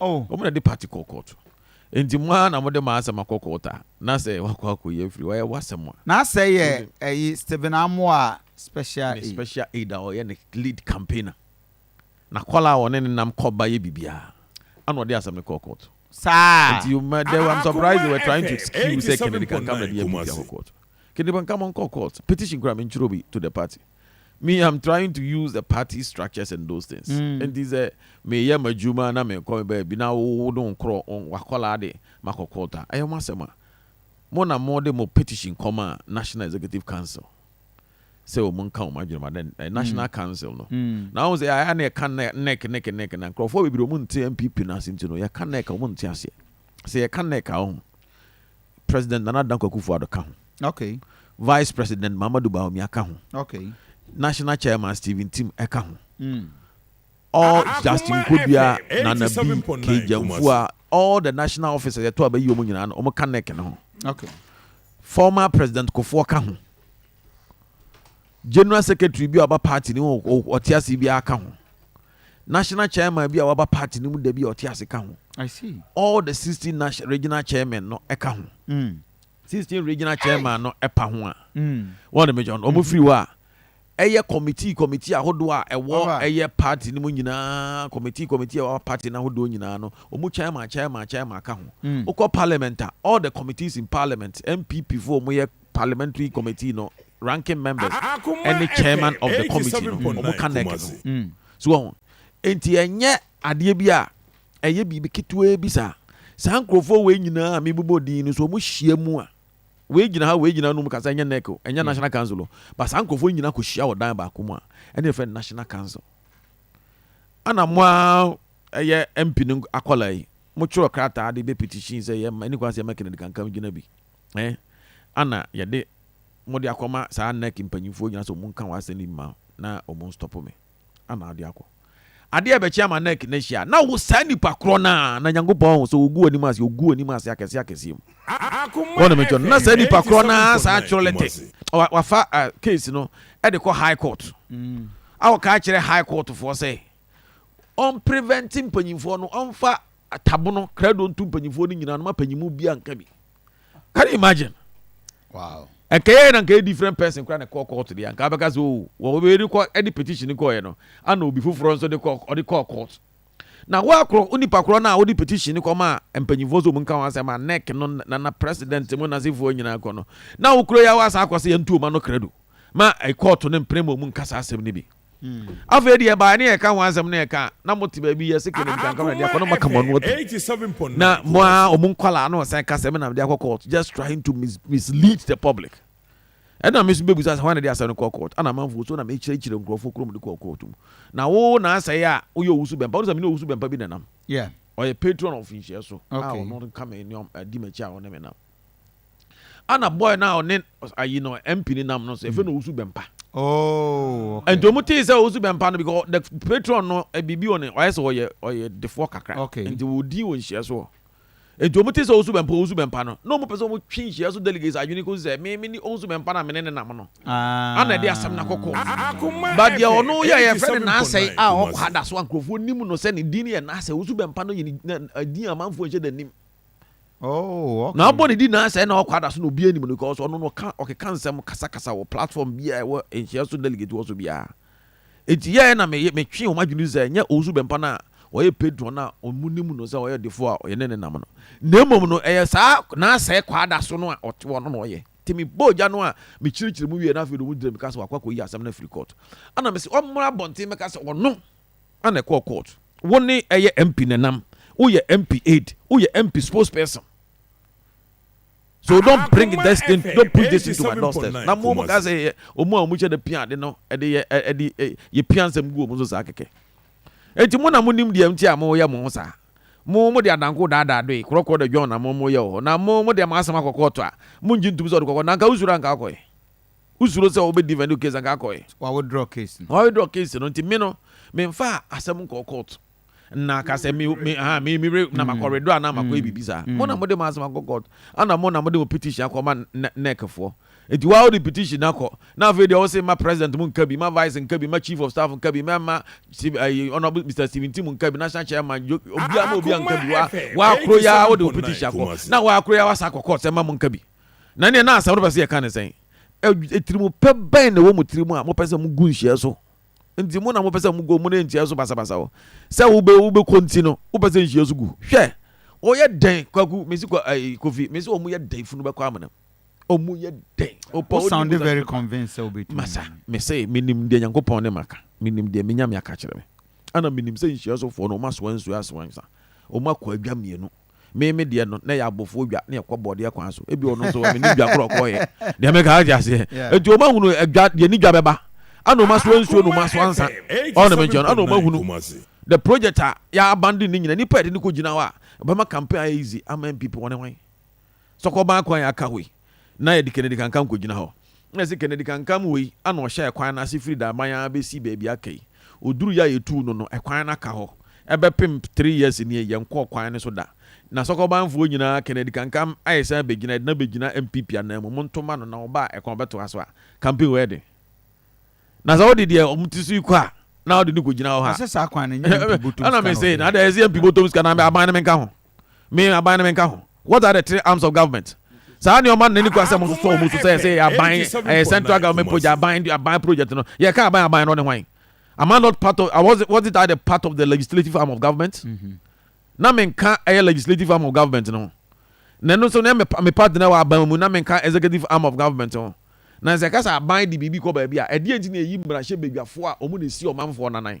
Wɔn na de party kɔ kɔɔto. Nti mo ara na mo de mo asɛm akɔ kɔɔto a, na sɛ wakɔ akɔyi afiri hɔ a, ɛyɛ w'asɛm a. Na asɛɛ yɛ ɛyi Stephen Amoah special aid. Ne special aid a ɔyɛ ne lead campaigner. Na kɔla a wɔne no nam kɔ ba yɛ biribiara. Ɛna ɔde asɛm no kɔɔ kɔɔto. Saa. Nti you ma dɛ I'm surprised they were trying to excuse sɛ Kennedy Kankama de yɛ biribi akɔ kɔɔto. Kennedy Kankama nkɔ kɔɔto. Petition koraa mentwerɛ bi to the party. me am trying to use the party structures and those things nti sɛ meyɛ m'adwuma na mekɔ me baabi na wode wo nkorɔ wakɔlaa de makɔ court a ɛyɛ mo asɛm a mo na mode mo petition kɔma national executive council sɛ wɔn nka wɔn adwene ma dɛ eh, national council no na wɔn sɛ yɛayɛ na yɛka nec nec nec na nkurɔfoɔ bebree wɔn nte npp no ase nti no yɛka nec wɔn nte aseɛ sɛ yɛka nec a wɔn President Nana Dankwa Akufo-Addo ka ho. Okay. Vice President Mahamadou Bawumia ka ho. Okay. National Chairman Stephen Tim ka ho. Mm. All ah, ah, Justin Kodua, Nana B, Kejamfua, all the national officers yɛtɔ a bɛyi wɔn nyinaa no wɔn ka NEC no ho. Okay. Former President Kofoɔ ka ho. General Secretary bi a ɔba party ni wɔn ɔte ase biara ka ho. National chairman bi a waba party no mu da bi a ɔte ase ka ho. All the sixteen national regional chairman no ɛka ho. Mm. Sixteen regional chairman no ɛpa ho a. Mm. Wɔn de mi jɔn, wɔn firi hɔ a. Ɛyɛ committee committee ahodoɔ a ɛwɔ ɛyɛ party no mu nyinaa committee committee a ɛwɔ party no ahodoɔ nyinaa no wɔn chairman chairman chairman ka ho. Mm. Okɔ parliament a all the committees in parliament NPP fo wɔn yɛ Parliamentary committee no ranking members ɛne chairman of the committee no ɔmo ka nec no ho so wahu enti ɛnyɛ adeɛ bi a ɛyɛ biribi ketewaa bi saa saa nkorɔfoɔ wei nyinaa a mebobɔ din no so ɔmo hyia mu a wei gyina ha wei gyina nom kasa ɛnyɛ nec o ɛnyɛ national council o ba saa nkorɔfoɔ nyinaa kɔ hyia wɔ dan baako mu a ɛne ɛfɛ national council ana mo a ɛyɛ mp no akɔla yi mo twerɛ krataa de bɛ petition sɛ yɛ ma ɛne kwan sɛ yɛ ma kennedy kankan gyina bi. Ɛ ana yɛde mo de akɔma saa NEC mpanyimfoɔ nyinaa sɛ wɔnka wɔn asɛm no bi ma na wɔnstɔpo me ana wode akɔ? Adeɛ a ɛbɛkye ama NEC no ahyi a na wo saa nipa korɔ no ara na Nyankopɔn ahu sɛ wɔgu w'anim ase, wɔgu w'anim ase akɛseɛ akɛseɛ mu. Wɔn na menkyerɛ no. Na saa nipa korɔ no ara saa atwerɛ lɛtɛ, wafa case no de kɔ High Court a ɔka kyerɛ High Court foɔ sɛ ɔn prevent mpanyinfoɔ no ɔnfa atabono krado ntu mpanyinfoɔ no nyinaa no ma panyimu bia nka bi can you imagine wow nka yɛ na nka yɛ different person kora na kɔɔ court deɛ nka abɛka sɛ o oh, wɔ wɔbɛyɛ de kɔ ɛde petition kɔɔyɛ no ana obi foforɔ nso de kɔ ɔde kɔɔ court na woakorɔ wo nipa korɔ no a wode petition no kɔma a mpanyimfoɔ sɛ ɔmu nka ho asɛm a nec no nana president mu nasefoɔ nyinaa kɔ no na wokuro yɛ a woasa akɔ sɛ yɛntu ɔma no krado ma ɛkɔɔto no mpene ma ɔmu nkasa asɛm no bi Afei deɛ ɛbaeɛ ne yɛka ho asɛm na yɛka a, na mote baabi yɛ sɛ kɛnɛ nkanka na deɛ akɔ na maka mo ano atom. Na mo a wɔn nkwadaa na wɔsan ka sɛ me na mede akɔ court just trying to mis mislead the public. Ɛna me nso bɛbisa sɛ hwan na ɛde asɛm no kɔɔ court? Ana amanfoɔ so na mekyerɛkyerɛ nkurɔfoɔ kuro mede kɔɔ court mu? Na wo na asɛe a woyɛ owusu bɛmpa wode sɛ mene owusu bɛmpa bi na nam. Yeah. Ɔyɛ patron of nhyia so a ɔno nka me ne ɔm di m'akyi a ɔne me nam. ana bɔɔl no a ɔne ayi no mp no nam no so efe na owusu bɛmpa oh, nti ɔmo tee sɛ owusu bɛmpa no because the patron no eh, biribi wɔ ne ɔyɛ sɛ ɔyɛ ɔyɛ defoɔ kakra nti wɔdi wɔ nhyia so nti ɔmo tee sɛ owusu bɛmpa owusu bɛmpa no na ɔmo pɛ sɛ ɔmo twe nhyia so delegates adwene kɔsi sɛ meme ne owusu bɛmpa na mene ne nam no ah. ana ɛde asɛm no akɔkɔ badeɛ ɔno yɛ yɛfrɛ no naasɛe a ɔkɔ ha da so a nkurɔfoɔ nim no sɛ ne din yɛ naasɛ owusu bɛmpa no yɛ ne din amanfoɔ nhyɛ da nim Oh, okay. Na abɔ ne di na sɛ na ɔkɔ adaso na obi anim no because ɔno no ɔka ɔkeka nsɛm kasakasa wɔ platform bi a ɛwɔ nhyia so delegate wɔ so biara. Enti yɛɛ na me metwe wɔn adwene sɛ nyɛ Owusu Bɛmpa no a ɔyɛ patron na ɔmo nim no sɛ ɔyɛ ɔdefo a ɔyɛ ne ne nam no. Na mmom no ɛyɛ saa naasɛe kɔ adaso no a ɔte ɔno na ɔyɛ. Nti me bɔɔ gya no a me kyerɛkyerɛ mu wie na afei de ɔmo gyina mu ka sɛ wakɔ akɔyi asɛm no afiri court. Ɛna me se ɔmmra abɔnten mmɛka sɛ ɔno Ana ɛkɔɔ court. Wo ne ɛyɛ MP nenam. Wo yɛ MP aide. Wo yɛ MP spokes person. So don't bring this thing don't push this thing to my doorstep. Na mo mo ka sɛ yɛ ɔmo a ɔmo hyɛ da pia ade no ɛde yɛ ɛde yɛ pia nsɛm gu ɔmo so saa kɛkɛ. Enti mo na mo nim deɛ nti a mo yɛ mo ho saa. Mo mo de adanko daadaa doe korɔkorɔ de dwɔn na mo mo yɛ wɔ hɔ. Na mo mo de mo asɛm akɔ court a mo ngye ntum sɛ ɔde kɔ court na anka wo suro a anka akɔ ɛ. Wosuro sɛ wɔbɛ defend wo case anka akɔ ɛ. Wa withdraw case no. Wa withdraw case no nti me no me nfa asɛm nkɔ court na ka sɛ me me aha me me na ma kɔ mm. withdraw na ma kɔ yɛ mm. biribi saa. Mm. Mo na mo de ma asɛm akɔ court ana mo na mo de mo petition akɔ ma NEC foɔ. Nti wa wode petition na kɔ na afei deɛ wɔsɛ ma president mo nka bi ma vice nka bi ma chief of staff nka bi ma ma eh, honorable Mr Stephen Tim nka bi national chairman obiara ma obiara nka bi wa wa akoro ya wode petition akɔ na wa akoro ya wa sa akɔ court sɛ ma mo nka bi. Na ɛneɛ na asɛm no pɛ sɛ yɛka ne sɛn? Atirimupɛ bɛn na ɛwɔ mo tiri mu a mopɛ sɛ mogu nhyia so? Nti mo na mopɛ sɛ mogu mo ne nhyia so basabasa hɔ? Sɛ wobɛ wobɛkɔ nti no wopɛ sɛ nhyia so gu? Hwɛ! Wɔyɛ dɛn kwaku mesi kwa ɛyi eh, kofi mesi wɔn yɛ dɛn funu bɛkɔ amanam wɔn yɛ dɛn ɔpɔ o sound very convinced sɛ wobɛtumi masa mese menim deɛ nyankopɔn ne maka menim deɛ menyame aka kyerɛ me ana menim sɛ nhyia sofoɔ no wɔn asoa nsuo asoa nsa wɔn akɔ adwa mmienu Me me deɛ no, na ɛyɛ abɔfoɔ dwa na yɛkɔ bɔɔdeɛ kwan so. Ebi ɔno nso menim dwa korɔ kɔɔyɛ. Deɛ meka ate aseɛ. Enti ɔma hunu dwa, deɛ ni dwa bɛba. Ana ɔma soa nsuo na ɔma soa nsa. Ɔne me nkyɛn, ana ɔma hunu the project a yɛ abandon ne nyina. Nipa yɛde no kɔ gyina hɔ a, ɛbɛma campaign ayɛ easy ama NPP wɔne hwan? Sɛ ɔkɔ ban kwan yɛ aka hɔ yi. na yɛde Kennedy Kankam kogyina hɔ. Nna se Kennedy Kankam wei ana ɔhyɛɛ kwan no ase firi Daban ara bɛsi baabi aka yi. Ɔdurui a yɛtuu no no, kwan no aka hɔ bɛpem three years nie, yɛnkɔɔ kwan no so da. Na Sɔkɔbanfoɔ nyinaa, Kennedy Kankam ayɛ sɛ abɛgyina, yɛde no abɛgyina NPP ananmu, monto mma no na ɔba a ɛkwan ɔbɛtoa so a, campaign wei ɛden. Na sɛ wode deɛ wɔn ti so yi kɔ a, na wode no kɔgyina hɔ ha. Ɛsɛ saa kwan no nyɛ MP bɔtɔm sika na ɔde yɛ. Ɛna me se, na adɛn ɛsɛ MP bɔtɔm sika na aban no menka ho? Me aban no menka ho. What are the three arms of government? saa nneɛma no n'ani kura sɛ mososɔ wɔn so sɛ ɛsɛ yɛ aban ɛyɛ central government project aban aban project no yɛka aban aban no ne hwan am I not part of I was was it I the part of the legislative arm of government mm-hmm. na menka ɛyɛ legislative arm of government no na ɛno nso na me part na wɔ aban mu na menka executive arm of government no na sɛ ɛka sɛ aban de biribi kɔ baabi a ɛdeɛ nti na ɛyi mmarahyɛ badwafoɔ a wɔn na ɛsi ɔmanfoɔ nanan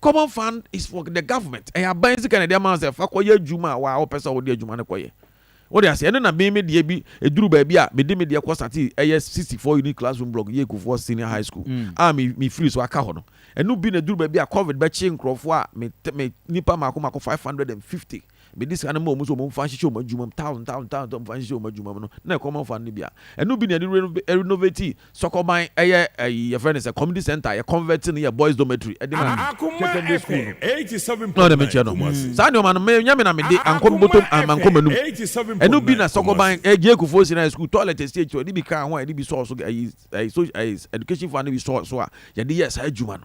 common fund is for the government ɛyɛ aban sika na ɛde ama sɛ fa kɔyɛ adwuma a waa wɔpɛ sɛ wɔde adwuma no kɔyɛ wɔde aseɛ ɛno na me me deɛ bi ɛduru baabi a mede me deɛ kɔ sate ɛyɛ 64 unit classroom block yɛ kufoɔ senior high school mm. a me me firi so aka hɔ no ɛno bi na ɛduru baabi a covid bɛkye nkurɔfoɔ a me me nipa mako mako 550 Mede sika no maa wɔn sɛ wɔmfa nhyehyɛ wɔn adwuma mu, thousand, thousand, thousand, wɔmfa nhyehyɛ wɔn adwuma mu no, na ɛkɔm amfa no no bi a, ɛno bi na yɛde re renovate Sɔkɔban ɛyɛ ɛyi yɛfrɛ no sɛ community center, yɛ convert no yɛ boys dormitory de ma Kyɛkyɛmbe school no. Na ɔde me kyerɛ no, saa nneɛma no menyɛ me na mede ankɔ me bɔtɔm amma ankɔ m'anum. Ɛno bi na Sɔkɔban ɛyɛ Gyee Kufuor Senior High School toilet ɛsi akyire hɔ, yɛde bi kaa ho a yɛde bi sɔɔ so, ɛyi ɛyi so ɛyi education fund no bi sɔɔ so a yɛde yɛɛ saa adwuma no.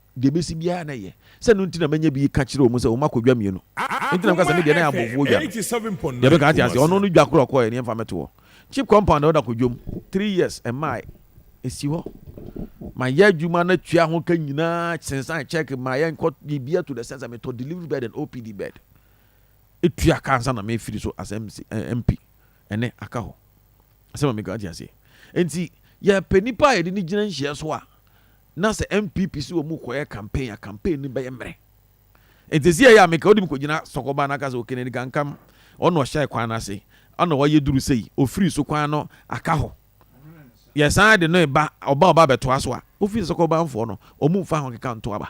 Deɛ ɛbɛsi biara na yɛ. Sɛ ɛno nti na manya bi reka kyerɛ wɔn sɛ wɔakɔdwa mmienu. Enti na meka sɛ, Me deɛ, na yɛn abɔfoɔ dwa no. Deɛ meka te aseɛ, ɔno no dwa korɔ a ɔkɔeɛ no, yɛmfa mmɛto hɔ. Cheap compound a ɔda kɔdwam, three years, ɛmmaeɛ. Ɛsi hɔ. Mayɛ adwuma no atua ho ka nyinaa, sensan cheque, ma yɛnkɔ biribiara to the extent sɛ metɔ delivery bed and OPD bed. Tua ka ansa na mefiri so as MC, eh, MP. Ɛnnɛ, aka hɔ. Asɛm a meka te aseɛ. Enti, yɛpɛ nnipa a yɛde no gyina nhyeɛ so a, Na sɛ NPP se wɔn rekɔyɛ campaign a, campaign no bɛyɛ mmerɛ. Nti ɛsɛ yɛyɛ a meka wode me kɔgyina sɔkɔbaa no aka sɛ Okenedi Kankam, ɔno na ɔhyɛɛ kwan no ase, ɔno na wayɛ duru sei, ɔfiri so kwan no aka hɔ. Yɛsan de no reba, ɔba a ɔba abɛtoa so a, wofi sɛ sɔkɔbanfoɔ no, wɔn mfa ho nkeka nto aba.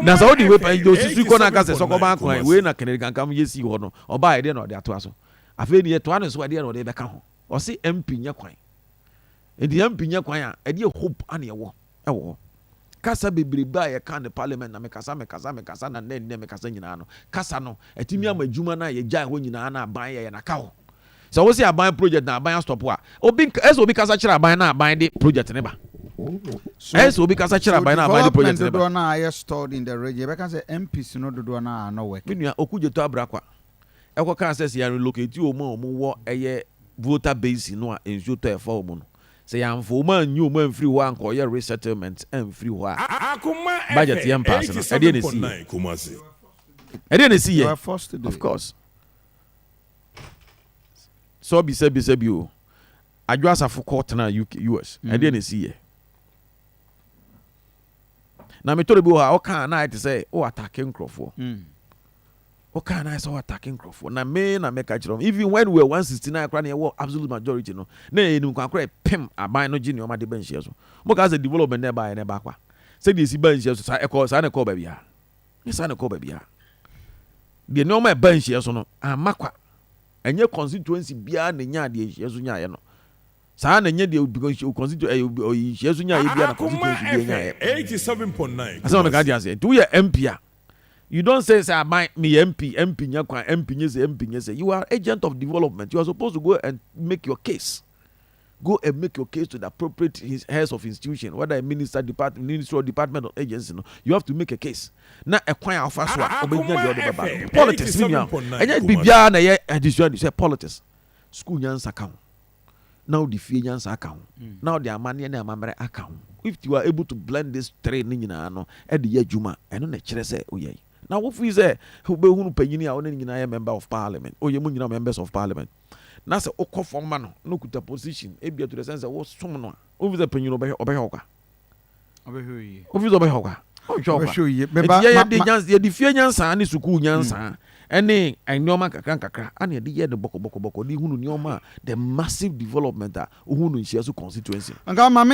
Na sɛ wode wei pa, deɛ ɔsusui kɔ no aka sɛ sɔkɔban kwan, wei na Kenedi Kankam yɛ sii hɔ no, ɔbaeɛ, ɛdeɛ na ɔde atoa so. Afei deɛ yɛtoa no so a, ɛdeɛ na ɔde bɛka ho? Ɔse MP nyɛ kwan. Aduanpi nyɛ kwan a ɛdeɛ hope a na yɛwɔ wɔ hɔ. Kasa bebrebe a yɛka ne parliament na mekasa mekasa mekasa na nnɛ nnɛ mekasa nyinaa no kasa no ɛtumi ama adwuma no a yɛgyae hɔ nyinaa na aban yɛyɛ no aka hɔ. Sɛ wose aban project na aban astɔpo a obi ɛsɛ obi kasa kyerɛ aban na aban de project ne ba. Ɛsɛ obi kasa kyerɛ aban na aban de project ne ba. So development dodoɔ no a ayɛ stalled in the region yɛbɛka sɛ MPs no dodoɔ no a ano work. Me nua Okudzeto Abrakwa Ɛkɔ kaa sɛ sɛ yɛn relocate wɔn a wɔn wɔ ɛyɛ Volta Basin no a nsuo tɔ a ɛfa wɔn no, sɛ yɛn amfa wɔn anyi wɔn amfiri hɔ ankɔ yɛ resettlement amfiri hɔ a, budget yɛn paase no, ɛdeɛn na ɛsi yɛ? Ɛdeɛn na ɛsi yɛ? Of course. Sɛ ɔbisa bisa bi o, Adwo Asafo kɔ tena UK, US, mm. ɛdeɛn na ɛsi yɛ? Na metɔre bi wɔ hɔ a ɔka na ayɛ te sɛ o atake nkurɔfoɔ. Mm. Ɔkaa no ayɛ sɛ ɔatake nkurɔfoɔ na me na mɛka kyerɛ wɔn. Even when we were 169 koraa na yɛwɔ absolute majority no, na yɛyɛ nim kwan koraa ɛpem aban no gye nneɛma de ba nhyia so. Mokaa sɛ development na ɛbaeɛ na ɛbaa kwa. Sɛdeɛ ɛsi baa nhyia so saa ɛkɔɔ saa na ɛkɔɔ baabiara. Ɛnyɛ saa na ɛkɔɔ baabiara. Deɛ nneɛma ɛbaa nhyia so no amma kwa. Ɛnyɛ constituency biara na ɛnyaa deɛ nhyia so nyaaeɛ no. Saa na ɛnyɛ deɛ because constitu ɛyɛ obi- ɔyi nhyia so nyaaeɛ biara na Akoma constituency biara FM nyaaeɛ. 87.9 Asɛm a meka Kumasi. te aseɛ. Nti woyɛ MP a, You don't say sɛ aban meyɛ MP, MP nyɛ kwan, MP nyɛ sɛ, MP nyɛ sɛ. You are agent of development. You are supposed to go and make your case. Go and make your case to the appropriate heads of institution, whether a minister, department, ministry or department or agency no. You have to make a case. Na ɛkwan a ɔfa so a ɔbɛgyina deɛ ɔde bɛba no. Politics ne nua. Ɛnyɛ biribiara na ɛyɛ adesua sɛ politics. School nyansa ka ho. na wode fie nyansa aka ho, na wode amanneɛ ne amammerɛ aka ho. If you are able to blend these three ne nyinaa no de yɛ adwuma a, ɛno na ɛkyerɛ sɛ woyɛ. Na wo feel sɛ wobɛhunu panyin a wo ne no nyinaa yɛ member of parliament, oyɛ mo nyinaa members of parliament, na sɛ wokɔ fam ma no na okuta position, ebia to the sense sɛ wosom no a, wonfeel sɛ panyin no ɔbɛhwɛ wo kwa? wofi sɛ ɔbɛhwɛ wo kwa yɛde fie nyansa ne sukuu nyansa mm. ɛne nneɛma nkakra nkakra ana yɛde yɛ no bɔkɔbɔkɔbɔkɔ de hunu nneɛma the massive development a wohu no nhyia so constituency